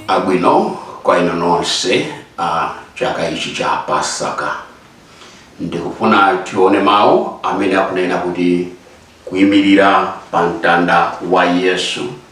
abwino kwa inu nonse chaka ichi cha pasaka ndikufuna tione mawu amene akunena kuti kuyimirira pa mtanda wa yesu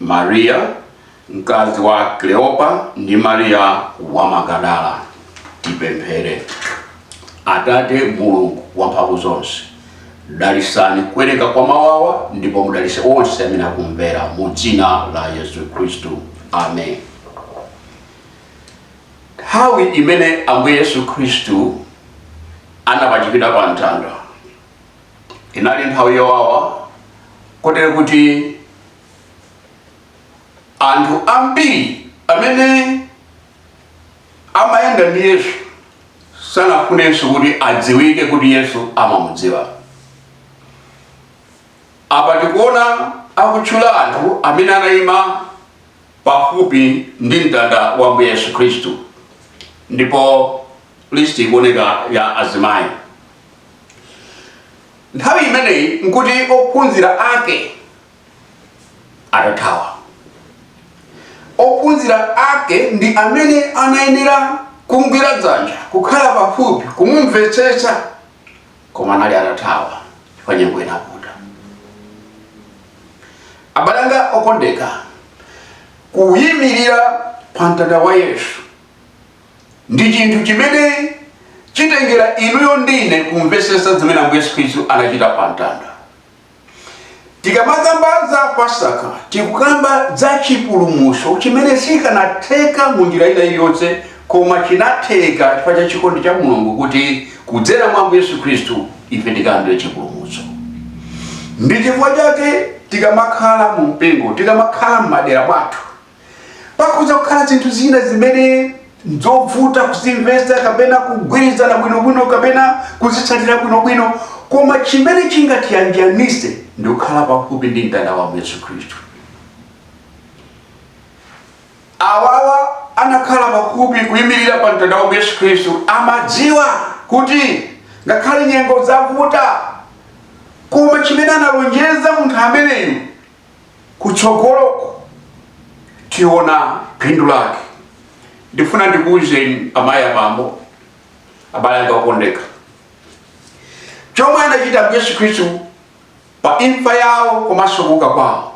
Mariya, mkazi wa Kleopa ndi Mariya wa Magadala. Tipemphere. Atate Mulungu wamphamvu zonse, dalisani kuwerenga kwa mawawa ndipo mudalise onse amene akumvera mu dzina la Yesu Khristu. Amen. Nthawi imene Ambuye Yesu Khristu anapachikidwa pa mtanda inali nthawi yowawa kotero kuti anthu ambiri amene amayenda ndi yesu sanafunenso kuti adziwike kuti yesu amamudziwa apa tikuona akutchula anthu amene anayima pafupi ndi mtanda wa ambuye yesu khristu ndipo listi ikuoneka ya azimayi nthawi imeneyi nkuti ophunzira ake atathawa ophunzira ake ndi amene anayenera kumgwira dzanja kukhala pafupi kumumvetsetsa koma anali atathawa chifukwa nyengo inavuta abale anga okondeka kuyimirira pa mtanda wa yesu Ndi chinthu chimene chitengera inuyo ndine kumvesetsa zimene Ambuye Yesu Khristu anachita pa mtanda. Tikamakamba za Pasaka tikukamba za chipulumutso chimene sichikanatheka mu njira ina iliyonse koma chinatheka chifukwa cha chikondi cha Mulungu kuti kudzera mwa Ambuye Yesu Khristu ife tikalandire chipulumutso. Ndi chifukwa chake tikamakhala mu mpingo, tikamakhala m'madera mwathu, pakhoza kukhala zinthu zina zimene nzovuta kuzimvetsa kapena kugwirizana bwinobwino kapena kuzitsatira bwinobwino koma chimene chingatiyanjanise ndi kukhala pafupi ndi mtanda wa ambuye yesu khristu awawa anakhala pafupi kuyimirira pa mtanda wa ambuye yesu khristu amadziwa kuti ngakhale nyengo zavuta koma chimene analonjeza munthu ameneyu kutsogoloko tiona phindu lake ndifuna ndikuwuzeni amayi abambo abale anga okondeka chomwe anachita yesu khristu pa imfa yawo komanso kuuka kwawo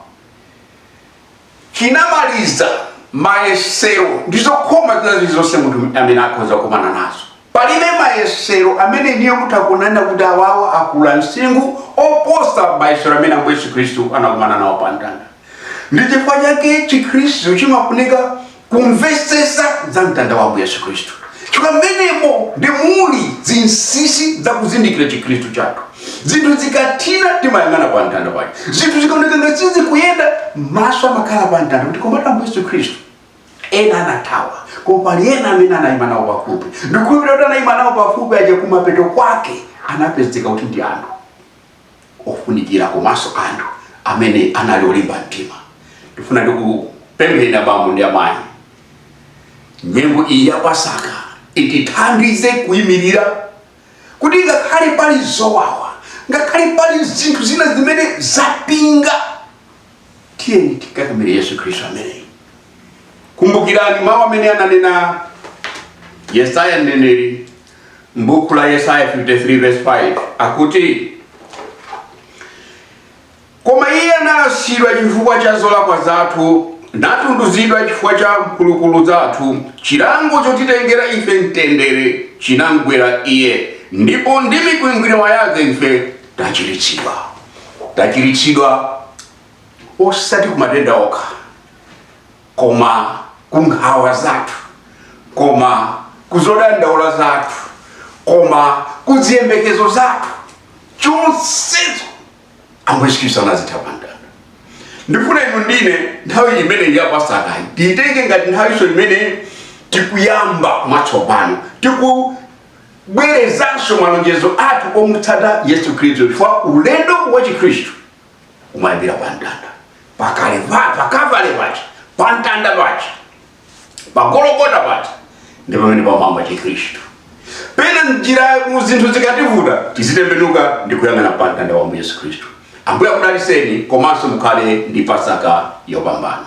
chinamaliza mayesero ndi zokhoma zina zilizonse munthu amene akhoza kukumana nazo Palibe mayesero amene inuyo mutha kunena kuti awawa akula msinkhu oposa mayesero amene Ambuye Yesu Khristu anakumana nawo pa mtanda. Ndi chifukwa chake chikhristu chimafunika kumvetsetsa za mtanda wa Ambuye Yesu Khristu. Chifukwa mmenemo ndi mmene muli zinsinsi za kuzindikira chikhristu chathu. Zinthu zikathina timayang'ana pa mtanda paja. Zinthu zikaoneka ngati sizikuyenda maso amakhala pa mtanda kuti koma Ambuye Yesu Khristu. Ena anathawa, koma pali ena amene anayima nawo pafupi. Ndikukhulupirira kuti anayima nawo pafupi aja kumapeto kwake anapezeka kuti ndi anthu ofunikira komanso anthu amene anali olimba mtima. Ndifuna ndikupempheni abambo ndi amayi, nyengo iyi ya Pasaka itithandize kuyimirira kuti ngakhale pali zowawa, ngakhale pali zinthu zina zimene zapinga tiyeni tikakamire yesu khristu ameneyi kumbukirani mawu amene ananena yesaya mneneri m'buku la yesaya 53 verse 5 akuti koma iye analasidwa chifukwa cha zolakwa zathu natunduzidwa chifukwa cha mphulupulu zathu chilango chotitengera ife mtendere chinamgwera iye ndipo ndi mikwingwirima yake ife Tachiritsidwa. Tachiritsidwa osati ku matenda okha, koma ku nkhawa zathu, koma ku zodandaula zathu, koma ku ziyembekezo zathu. Zonsezo Ambuye Yesu Khristu anazitha pa mtanda. Ndifuna inu ndi ine nthawi imeneyi ya Pasakayi tiitenge ngati nthawinso imene tikuyamba mwatsopano tiku kubwerezanso malonjezo athu omutsata yesu khristu chifukwa ulendo wa chikhristu umayambira pa mtanda pakale pa- pa kavale paja pa mtanda paja pa gologota paja ndi pamene pamayamba chikhristu pena m'njiramu zinthu zikativuta tizitembenuka ndi kuyang'ana pa mtanda wa ambuye yesu khristu ambuye akudalitseni komanso mukhale ndi pasaka yopambana